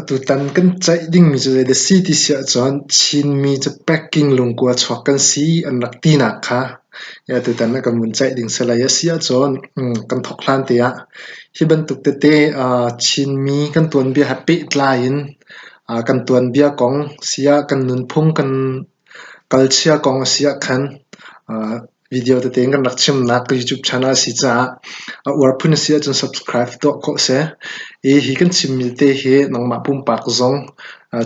Tutan kan ceih ding mi cu zeidah a si ti si ahcun Chinmi cu packing lungkua chuak kan si an rak tinak kha tutan ah kan vun ceih ding salai a si ahcun kan thawk hlan te ah hi bantuk tete Chinmi kan tuanbia he pehtlai in kan tuanbia kong si ah kan nunphung kan kalchia kong a si ahkhan Video tete in kan rak chimnak ka YouTube channel a si caah a uar phun a si ahcun subscribe tuah ko seh. I hi kan chimmi te hi nangmah pumpak zong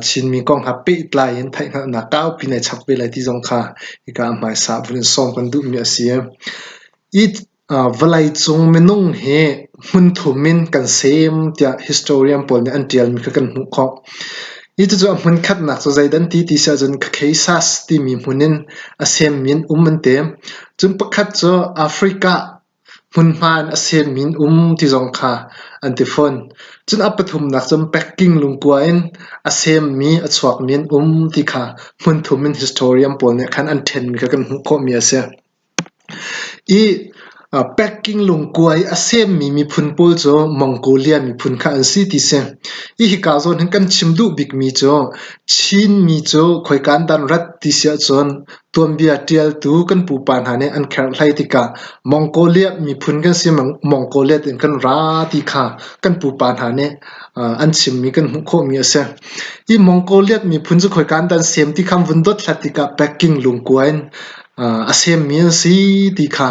Chinmi kong ha pehtlai in theihhngalhnak kaupi nei chap ve lai ti zong kha hika ah hmaisa vun in sawm kan duhmi a si. Hi vawleicung minung hi hmunthum in kan sem tiah historian pawl nih an ṭialmi kha kan hmuh khawh. Hi cucu a hmun khatnak cu zeidan ti ti si ahcun Caucasus timi hmun in a semmi an um an ti. Cun pakhat cu Africa hmunhma in a semmi an um ti zong kha an ti fawn. Cun a pathumnak cu Peking lungkua in a semmi, a chuakmi an um ti kha hmun thum in historian pawl nih khan an ṭhenmi kha kan hmuh khawhmi a si. I packing lungkuai a semmi miphun pawl cu Mongolia miphun kha an si ti si. Hi hika zawn hin kan chim duh bikmi cu Chinmi cu khoika an dah an rat ti si ahcun tuanbia ṭialtu kan pupa hna nih an kherhlai tikah Mongoliat miphun kan si, Mongoliat in kan ra ti kha kan pupa hna nih an chimmi kan hmuh khawhmi a si. Hi Mongoliat miphun cu khoika an dah an sem ti kha an vun dothlat tikah packing lungkuai in a semmi an si ti kha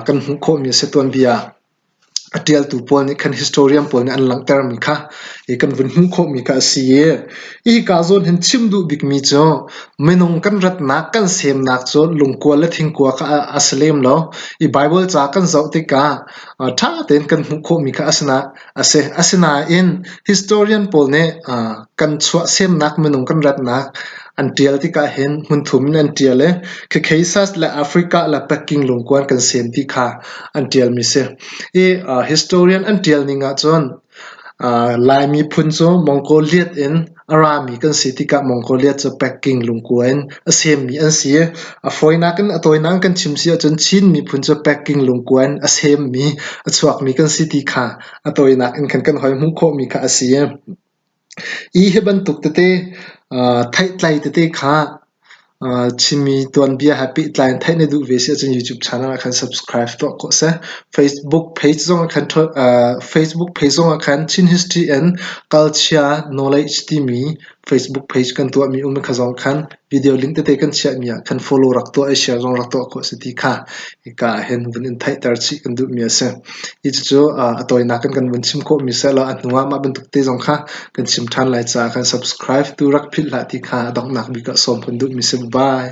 kan hmuh khawhmi a si. Tuanbia a ṭialtu pawl nih khan historian pawl nih an langhtermi kha kan vun hmuh khawhmi kha a si i hika zawn hin chim duh bikmi cu minung kan ratnak kan semnak cu lungkua le thingkua kha a si lem lo. I Baibal ca kan zoh tikah ṭha tein kan hmuh khawhmi kha a si nak a si. Asinain historian pawl nih kan chuahsemnak minung kan ratnak an ṭial tikah hin hmunthum in an ṭial i Caucasus le Africa le Peking lungkuan kan sen ti kha an ṭialmi si. I historian an ṭial ning ahcun Lai miphun cu Mongoliat in A rami kan si tikah Mongolia cu Peking lungkua in a semmi an si. A fawinak in a tawinak in kan chim si ahcun Chin miphun cu Peking lungkua in a semmi, a chuakmi kan si ti kha a tawinak in kan kan hoi hmuh khawhmi kha a si. Hi hi bantuk tete, theihtlai tete kha Chimmi tuanbia he pehtlai in theih na duh ve si ahcun YouTube channel ah khan subscribe tuah ko seh. Facebook page zongah khan Facebook page zongah khan Chin History and Culture Knowledge timi Facebook page kan tuahmi um kha zong khan video link tete kan chiahmi ah khan follow rak tuah i share zong rak tuah ko seh ti kha hika ahhin vun in theihter chih kan duhmi a si. Cucu a tawinak in kan vun chim khawhmi sehlaw a hnu ah mah bantuk te zong kha kan chim ṭhan lai caah kan subscribe tu rak philh hlah ti kha a donghnak bik ah sawm kan duhmi a si. Bye!